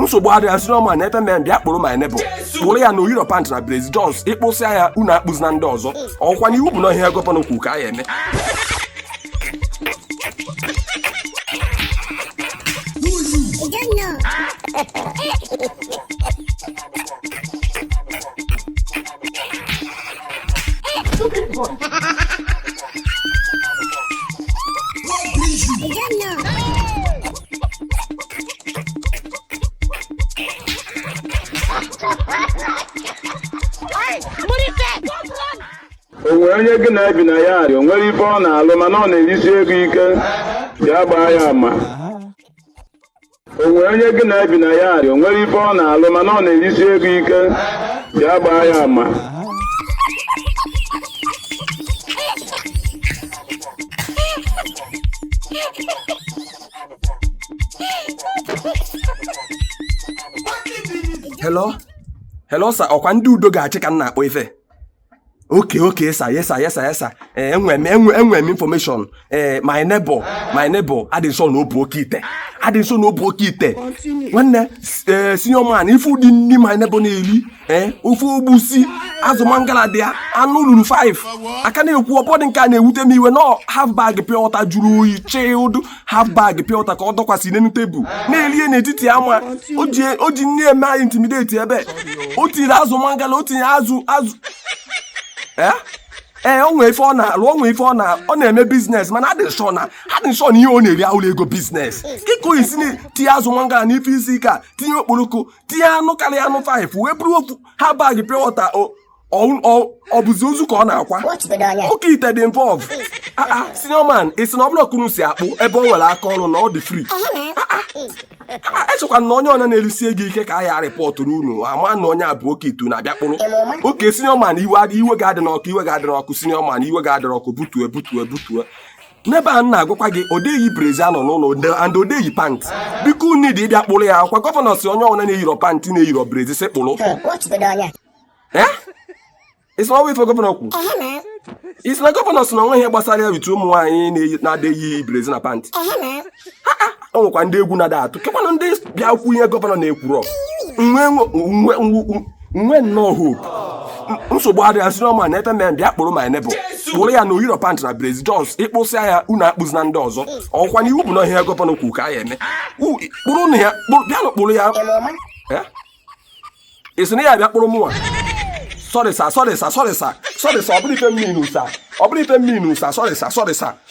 nsogbu adịghị ah senior man help me bịa kpụrụ my neighbor kpụrụ ya na o yirọ pant na brezi just ị kpụsịa ya unu akpụzina ndị ọzọ ọkwa na iwu bụ na ihe gọvanọ kwu ka a ya eme o nwee onye gị na ya bi na yard o nwerọ ife ọ na-alụ mana ọ na-erisi ego ike ya gbaa ya ama o nwee onye gị na ya bi na yard o nwerọ ife ọ na-alụ mana ọ na-erisi ego ike ya gbaa ya ama hello hello sir ọkwa ndị udo ga-achị ka m na-akpọ ife okay okay sir yes sir yes sir yes sir ee enwe m enwe enwe m information ee eh, my neighbor my neighbor adị m sure na ọ bụ oke ite adị m sure na ọ bụ oke ite nwanne ee eh, senior man ị fụ ụdị nri my neighbor na-eri ee ofe egwusi azụ mangala dị ya anụ luru 5 aka na-ekwu ọ bụdị nke a na-ewute m iwe na half bag pure water jụrụ oyi chilled half bag pure water ka ọ dọkwasị n'elu tebụl na-elie n'etiti ama o ji na-eme anyị intimidate ebe o tiri azụ mangala o tinye azụ azụ ee ee ọ nwee ife ọ na-alụ ọ nwee ife ọ na ọ na-eme business mana adị m sure na adị m sure na ihe ọ na-eri abụrọ ego business kee ka ọ ya-esi tinye azụ mangala n'ofe isi ike a tinye okporoko tinye anụ karịa anụ five wee buru ofu half bag pure water ọ bụzi ozu ka ọ na-akwa oke ite dị involve ah, ah, senior man ị sị na ọ bụrọ ka unu si akpụ ebe ọ nwere aka ọrụ na ọ dị free echekwa m na onye ọbụna na-erisi ego ike ka a ya-rịpọtụrụ unu ama na onye a bụ oke ite unu abịa kpụrụ okay senior man iwe gị adịna ọkụ iwe gị adịna ọkụ senior man iwe gị adịna ọkụ butue butue butue neighbor a m na-agwakwa gị ọ dị eyi brezi anọ n'ụlọ and ọ dị eyi pant biko unu dị ịbịa kpụrụ ya ọkwa gọvanọ sị onye ọbụla na-eyirọ pant na-eyirọ brezi sị kpụrụ ị sị na ọ bụrọ ife gọvanọ kwu ị sị na gọvanọ sị na o nwe ihe gbasara ya rite ụmụ nwaanyị na-adị eyi brezi na pant o nwekwa ndị egwu na-ada atụ kekwanụ ndị bịa kwu ihe gọvanọ na-ekwurọ nwe nwe nnọọ hope nsogbu adịghị ah senior man help me bịa kpụrụ my neighbor kpụrụ ya na o yirọ pant na brezi just ị kpụsịa ya unu akpụzina ndị ọzọ ọkwa na iwu bụ na ihe gọvanọ kwuru ka a ya eme kpụrụnụ ya bịanụ kpụrụ ya ị sị na ị ya-abịa kpụrụ mụnwa sorry sir sorry sir sorry sir sorry sir ọ bụrọ ife m mean o sir ọ bụrọ ife m mean o sir sorry sir sorry sir